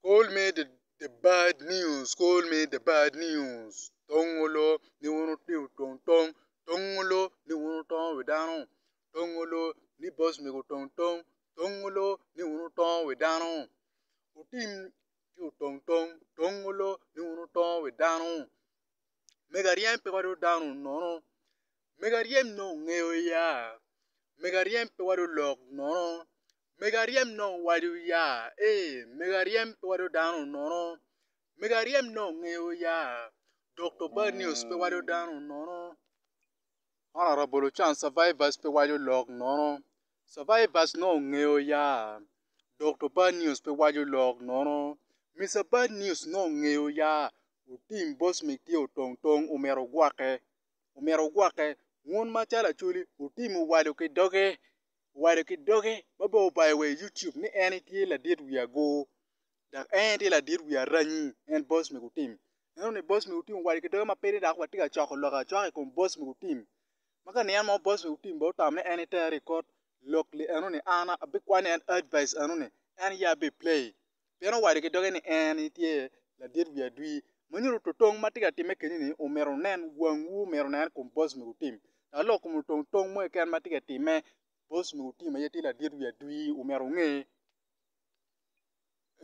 Call me the bad news, call me the bad news tongolo ni un otye tong tong, tongolo ni un otongo wi dano, tongolo ni boss mego tong tong, tongolo ni un otongo wi dano, otim tye otong tong, tongolo ni un otongo wi dano, mego aryem pe wado dano nono, mego aryem nongo ongeyo ya, mego aryem pe wado lok nono, mego aryem nongo wadi oya ee mego aryem pe wado dano nono mego aryem nongo nge oya Dokto bad news pe wado dano nono honorable ocan survivors pe wado lok nono survivors nongo nge oya Dokto bad news pe wado lok nono Mister bad news nongo nge oya otim boss me tye otong tong omyero ogwokke omyero ogwokke wun macalo acholi otimo wadu ki doge owaco ki doge ma bene obayo wa i yucub ni en aye tye ladit wi agur dok en aye tye ladit wi aranyi en boss me gutim ineno ni boss me gutim owaco ki doge ma piny dok watye ka coko lok acoka i kom boss me gutim ma ka niang mo boss me gutim bene otamo ni en aye tere i kot lok li enoni an abikwano ni en advice enoni en aye abiplay. pien owaco ki doge ni en aye tye ladit wi adwi. Ma nyuto totong ma tye ka timme keni-ni omyero wunen, wangwu myero onen kom Bocc ma wutim. Ka lok kom otong tong mo keken ma tye ka timme, Bocc ma wutim aye tye ladit wi adwi, omyero wunge.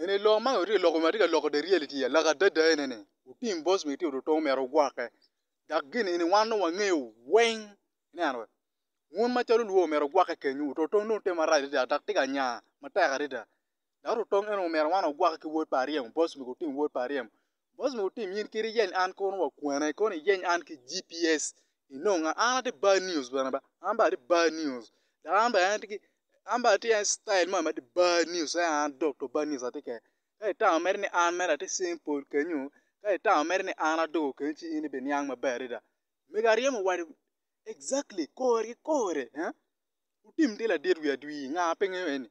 Eni lok ma watye ka loko ma tye ka loko the reality ya, lok adada ene ni wutim Bocc ma itimo totong omyero wugwokke. Dok gin eni wan dong wangeyo weng, ineno wee? Wun macalo olwo omyero wugwokke kenyu, totong dong tye marac adada dok tye ka nya matek adada. Dok lutong eno omyero wan ogwaki ki wod pa aryem, boc omego otim wod pa aryem. Boc omego otim in kit iyeny an kono wa kwene, kono iyeny an ki GPS inonga. An atye bad news bene ba, an bene atye bad news dok an bene atye ki, an bene atye ki citayel moni ma atye bad news en aye an dokto bad news atye kwede. Ka itamo mere ni an mere atye Saint Paul kenyo, ka itamo mere ni an adoko kenyo ci in ibiniang maber adada. Mego aryem owacci exactly kore ki kore, wutim tye ladit wi adwir, nga pingo eni?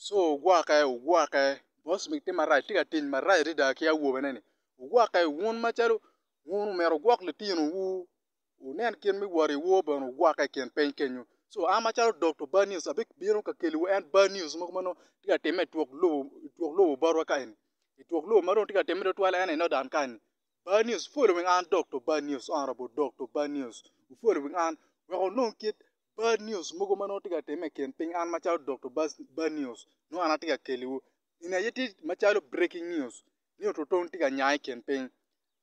so ogwokke ogwokke boss ni tye marac tye ka tic marac adada ki awobe ne ni ogwokke wun macalo wun omyero wugwok litino wu wunen kit me wot i wor bene ogwokke i kin piny kenyo so an macalo Dokta bad news abibino ka keliwu en bad news mogo ma nongo tye ka timme itwok lobo itwok lobo botwa ka eni itwok lobo ma dong tye ka timme tutwal en aye i Northern ka eni bad news following an Dokta bad news honourable Dokta bad news following an wek onong kit bad news mogo ma nongo tye ka timme i kin piny an macalo Dokta bad news nongo an atye ka keliwu gin aye tye macalo breaking news ni ototong tye ka nya i kin piny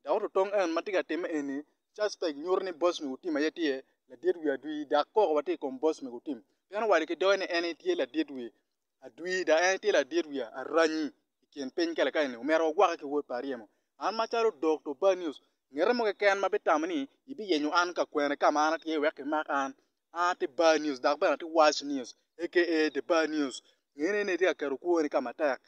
dok ototong en ma tye ka timme eni suspect nyuto ni boss me gutim aye tye ladit wi adwi dok koko watye i kom boss me gutim pien owaco ki doge ni en aye tye ladit wi adwir dok en tye ladit wiya aranyi i kin piny kalekale-ni omyero wagwokke ki wod pa aryemo an macalo dokta Obanius ngete mo keken ma bitamo ni ibiyenyo an ka kwene ka ma an atye wek kimak an an aye Bar news dok bene atye Wac news aka The Bar News ngene ni itye ka keto kwoni ka matek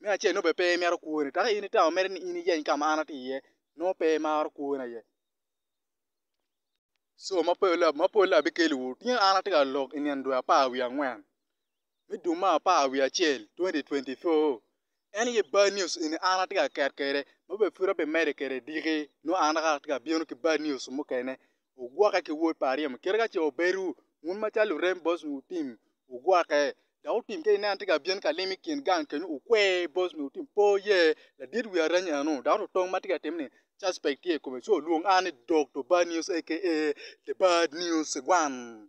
me acel nongo bene pe imito kwoni dok in itamo mere ni in iyeny ka ma an atye iye nongo pe imaro kwoni aye. Co ma polle abikelliwu tye an atye ka lok i nino dwe apar wiye angwen me dwe me apar wiye acel 2024 en aye bad news eni an atye ka ket kwede ma bene pud abimedde kwede dyekki nongo an naka atye ka bino ki bad news mukene ogwokke ki wod pa aryemo kit ka ce obedo wun macalo lurem bot lutino ogwokke. dok otim ka inen atye ka byen ka lim i kin gang kenyo okwe bos nyo otim pe oye ladit wi arany eno dok lutong ma tye ka timme-ni suspect tye i kome ci olwong an ni Dokta Bad News aka The Bad News One.